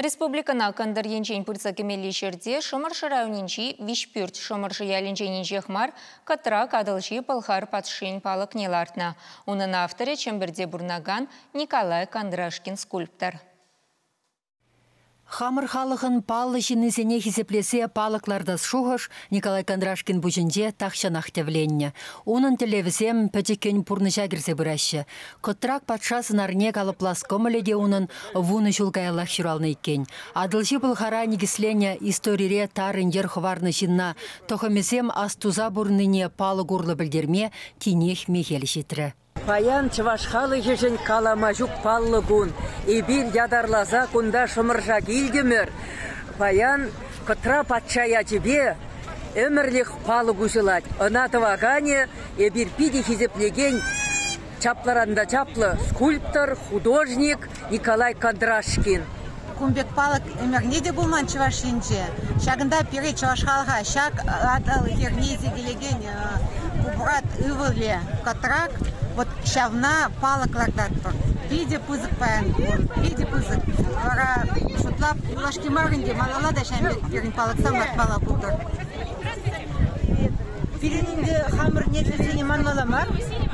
Республикӑна кӑнтӑр енчен пырса кӗмелли ҫӗрте Шӑмӑршӑ районӗнчи Виҫпӳрт Шӑмӑршӑ ялӗнчен инҫех мар Кӑтрак Атӑлҫи Пӑлхар патшин палӑкне лартнӑ. Унӑн авторӗ Чӗмпӗрте пурӑнакан Николай Кондрашкин скульптор. Хамӑр халӑхӑн паллӑ ҫыннисене хисеплесе палӑк лартас шухӑш Николай Кондрашкин пуҫӗнче тахҫанах тӗвленнӗ. Унӑн тӗллевӗсем пӗчӗккӗн пурнӑҫа кӗрсе пыраҫҫӗ. Кӑтрак патша сӑнарне калӑплас кӑмӑлӗ те унӑн вунӑ ҫул каяллах ҫуралнӑ иккен. Атӑлҫи пӑлхара никӗсленнӗ историре тарӑн йӗр хӑварнӑ ҫынна тӑхӑмӗсем астуса пурӑннине палӑк урлӑ пӗлтерме тинех мехел ҫитрӗ. Паян чӑваш халӑхӗшӗн калама ҫук паллӑ кун. Эпир ятарласа кунта Шӑмӑрша килтӗмӗр. Паян Кӑтра патша ячӗпе ӗмӗрлӗх палӑк уҫӑлать. Ӑна тӑваканӗ Эпир питӗ хисеплекен, чаплӑран та чаплӑ скульптор, художник Николай Кондрашкин. Кун пек палӑк ӗмӗрне те пулман Чӑваш Енче. Ҫакӑнта пире, чӑваш халӑха, ҫак Атӑл хирне сикелекен Купрат ывӑлӗ Кӑтрак, вот ҫавна палӑк лартатпӑр. Питӗ пысӑк паян кун, питӗ пысӑк. Вара шутлап юлашки мар ӗнтӗ малалла та ҫавӑн пек пирӗн палӑксем лартмалла пултӑр. Пирӗн ӗнтӗ хамӑр нефтьсене манмалла мар,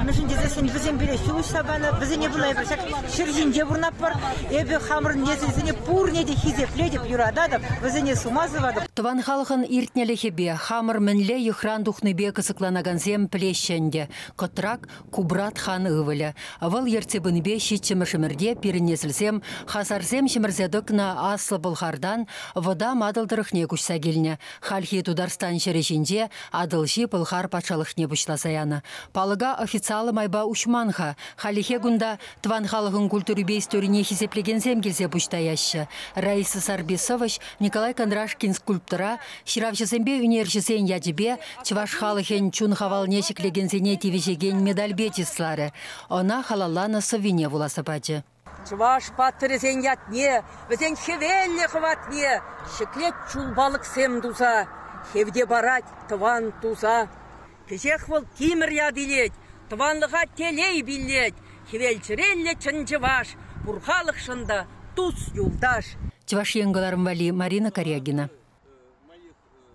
мӗншӗн тесессӗн вӗсем пире ҫулӑхса панӑ, вӗсене пула эпир ҫак ҫӗр ҫинче пурӑнатпӑр. Эпӗ хамӑрӑн нефтьсене пурне те хисеплетӗп, юрататӑп, вӗсене сума сӑватӑп. Тӑван халӑхӑн иртнӗлӗхӗпе, хамӑр мӗнле йӑхран тухнипе кӑсӑкланакансем пӗлеҫҫӗ ӗнтӗ. Кӑтрак Кубрат хан ывӑлӗ. Вӑл ертсе пынипе ҫиччӗмӗш ӗмӗрте пирӗн несӗлсем хасарсем ҫӗмӗрсе тӑкнӑ Аслӑ Пӑлхартан вӑтам Атӑл тӑрӑхне куҫса килнӗ. Хальхи Тутарстан ҫӗрӗ ҫинче Атӑлҫи Пӑлхар патшалӑхне пуҫласа янӑ. Палӑка официаллӑ майпа уҫман-ха. Хальлӗхе кунта тӑван халӑхӑн культурипе историне хисеплекенсем килсе пуҫ таяҫҫӗ. Раиса Сарбисоваҫ Николай Кондрашкин скульптора ҫыравҫӑсемпе ӳнерҫӗсен ячӗпе чӑваш халӑхӗн чун хавалне ҫӗклекенсене тивӗҫекен медальпе чысларӗ, ӑна халалланӑ сӑввине вуласа пачӗ. Чӑваш паттӑрӗсен ятне, вӗсен хӗвеллӗ хӑватне ҫӗклет чул палӑксем туса, хевте парать тӑван туса. Кӗҫех вӑл тимӗр ят илет, тӑванлӑха телей пиллет, хӗвел чӗреллӗ чӑн чӑваш, пур халӑхшӑн та тус-юлташ. Чӑваш Ен кӑларӑм валли Марина Корягина.